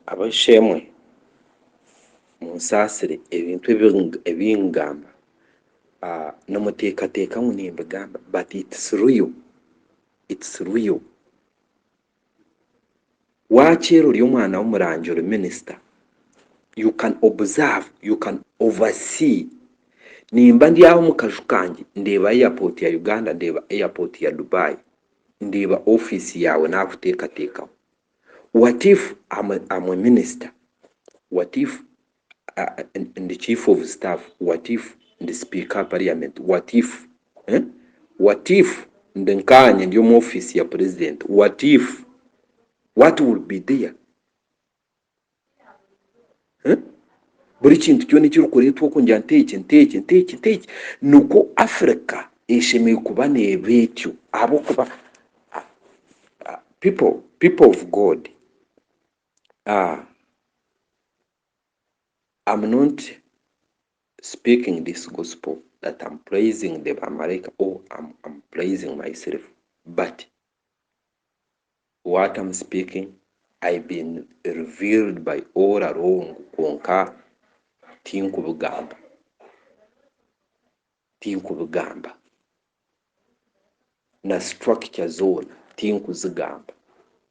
Abasheemwe, munsaasire ebintu ebi ngamba nimuteekateeka ngu nimbigamba but it's real, it's real. Waakiira ori omwana w'omurangi ori minister you can observe, you can over see. Nimba ndi aho omu kaju kangye ndeeba airport ya Uganda ndeeba airport ya Dubai ndeeba office yaawe naakuteekateekaho. What if am am a minister? What if ndi chief of staff? What if ndi speaker parliament? What if eh? What if ndi nkaanye ndi omu office ya president? What if what will be there? Buri kintu kyona ekirikureetwa okwo ngira nti eki nti eki nti eki nti eki. Nikwo Africa eshemereire kuba neeba etyo ahabw'okuba people people of God are am not speaking this gospel that am praising the bamaraika or am praising myself but. What am speaking I been revealed by all along kwonka tinkubigamba tinkubigamba na structure zoona tinkuzigamba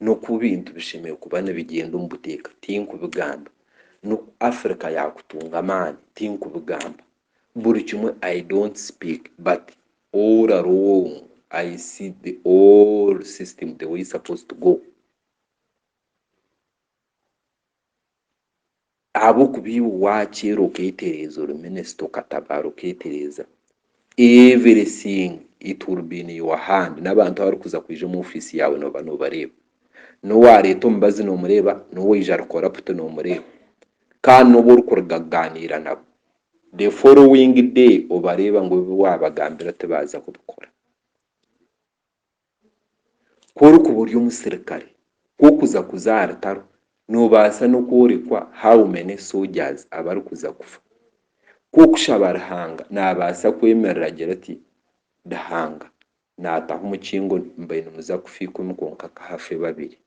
n'oku ebintu bishemereire kuba nibigyenda omu buteeka tinkubigamba n'oku Africa yaakutunga amaani tinkubigamba Buri kimwe I don't speak but all along I see the all system the way it's supposed to go ahabw'okuba iwe waakyeera okeetereeza ori minisita okatabaara okeetereeza everything it will be in your hand n'abantu abarikuza kwija omu ofiisi yaawe nooba noobareeba n'owaareeta omubazi noomureeba n'owaija ari corrupt noomureeba kandi n'obu orikuruga kugaaniira nabo the following day obareeba ngu ebi waabagambira tibaaza kubikora. Ku orikuba ori omusirikare, ku orikuza kuza aha rutaro, noobaasa n'okworekwa how many soldiers abarikuza kufa. Ku orikushaba Ruhanga, naabaasa kwemerera agire ati, Ruhanga, naataho omukingo mbaire nimuza kufa ikumi kwonka ka hafe babiri.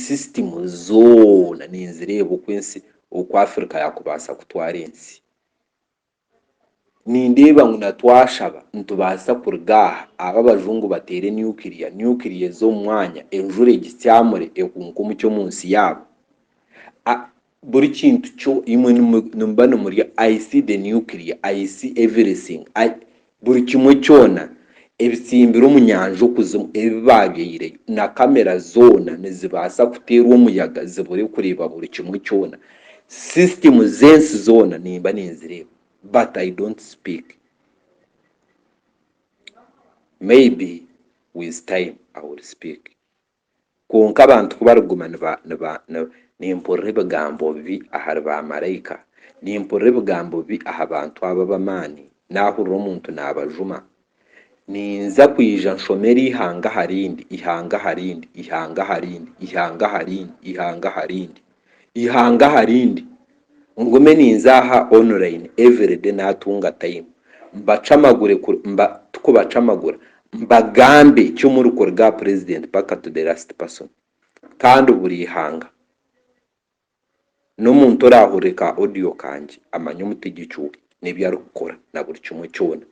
Sisitimu zoona ninzireeba oku ensi, oku Africa yaakubaasa kutwara ensi. Nindeeba ngu na twashaba nitubaasa kuruga aha, aba abajungu bateere nuclear, nuclear eze omu mwanya, enjura egitsyamure, ehuunke omucyo omu nsi yaabo. Buri kintu kyo imwe nimuba nimurya I see the nuclear I see everything I buri kimwe kyona ebitsimbire omu nyanja okuzimu ebi baabyaireyo na kamera zoona nizibaasa kuteerwa omuyaga zibure kureeba buri kimwe kyona system z'ensi zoona nimba ninzireeba but I don't speak maybe with time I will speak. Kwonka abantu ku barikuguma nimpurira ebigambo bibi ahari baamaraika, nimpurira ebigambo bibi aha bantu abo ab'amaani, naahurira omuntu naabajuma, ninza kwija nshoma eri ihanga aha rindi, ihanga aha rindi, ihanga aha rindi, ihanga aha rindi, ihanga aha rindi. Ihanga aha rindi. Ngume ninza aha online everyday natunga time mbacamagure kuri mba tukubacamagura mbagambe ki omuri kuruga aha president paka to the last person kandi buri ihanga n'omuntu orahurire ka audio kangye amanye omutegyeki we n'ebi arikukora na buri kimwe kyona.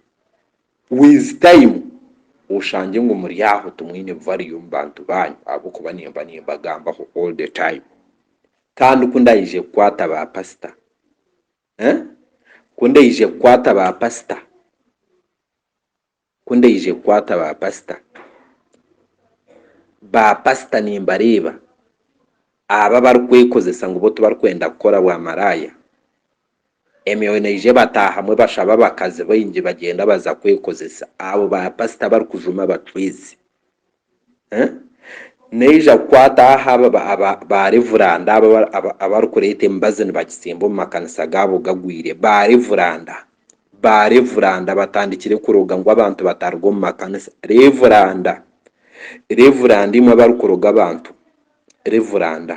With time oshange ngu muri aho timwine value omu bantu banyu ahabw'okuba nimba nimbagambaho all the time. Kandi ku ndaije kukwata ba pastor eeh, ku ndaije kukwata ba pastor, ku ndaije kukwata ba pastor, ba pastor nimbareeba abo abarikwekozesa ngu bo tibarikwenda kukora bwa maraaya, Emyoyo neija ebataahamu ebashaba abakazi baingi bagyenda baza kwekozesa abo ba pasita abarikujuma abacwezi. Neija kukwata aha ba revuranda abo abarikureeta emibazi nibagitsimba omu makanisa gaabo gagwire. Ba revuranda! Ba revuranda batandikire kuroga ngu abantu bataruga omu makanisa. Revuranda! Revuranda imwe abarikuroga abantu! Revuranda!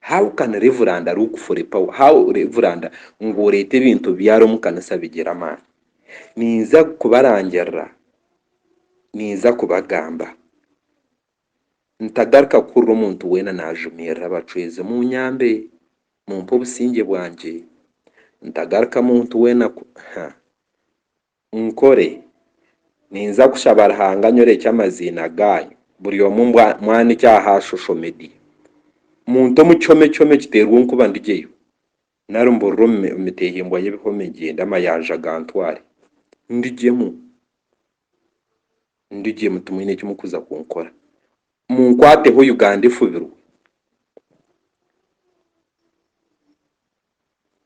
How can Reveranda look for a power how Reveranda ngu oreete ebintu byara omu kanisa bigira amaani ninza kubarangirira ninza kubagamba ntagaruka kuhurira omuntu weena najumiirira abacwezi munyambe mumpe obusingye bwangye ntagaruka muntu weena ku huh. Nkore? Ninza kushaba Ruhanga anyorekye amaziina gaanyu buri omwe ngu amwanikye aha shosho media. Muntu omu kihome kihome kiteerwa onkuba ndigyeyo, nari mburire omu miteehimbwa y'ebihome ngyende amayanja gantware. Ndigyemu. Ndigyemu timwine eki mukuza kunkora. Munkwateho Uganda efubirwe.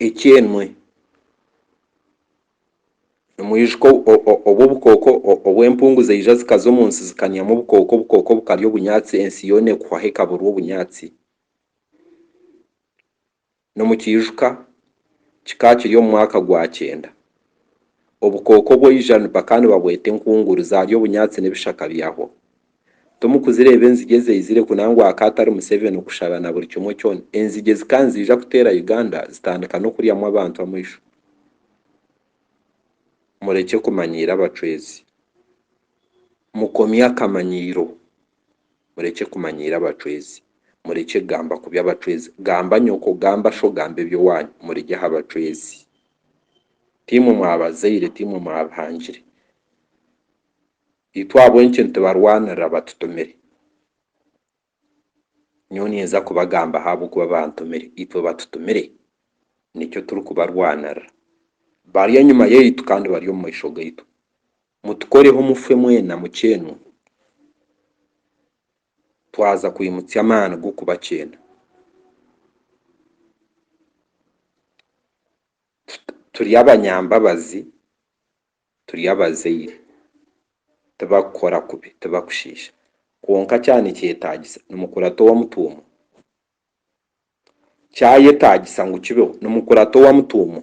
ekyenwe omwijuka obu obukooko obw'empungu zaija zikaza omu nsi zikanyamu obukooko, obukooko bukarya obunyaatsi ensi yoona ekuhwaho ekaburwa obunyaatsi. N'omu kiijuka kikaba kiri omu mwaka gwa kyenda obukooko bwaija bakaba nibabweta enkunguru, zaarya obunyaatsi n'ebishaka byahwaho. Tomukuzireeba enzigi ezaizire ku nangwa aka atari Museveni okushaba na buri kimwe kyona. Enzigi ezika niziija kuteera Uganda zitandika n'okuryamu abantu amaisho. Murekye kumanyiira abacwezi. Mukomye akamanyiiro. Murekye kumanyiira abacwezi. Murekye kugamba kubi abacwezi. Gamba nyoko, gamba sho, gamba eby'owaanyu. Murirye aha bacwezi. Tiimwe mwabazaire, tiimwe mwabihangire. Itwe ahabw'enki nitubarwanirira batutumire? Nyowe ninza kubagambaho ahabw'okuba bantumire. Itwe batutumire, nikyo turikubarwanirira. Bari enyima yaitu kandi bari omu maisho gaitu. Mutukoreho mufe mwena mukyenwe, twaza kwimutsya amaani g'okubakyeena. Turi abanyambabazi turi abazaire, tibakukora kubi, tibakushiisha. Kwonka kyaba nikyetaagisa, nimukurata owamutuumwa. Kyayetaagisa ngu kibeho, nimukurata owamutuumwa.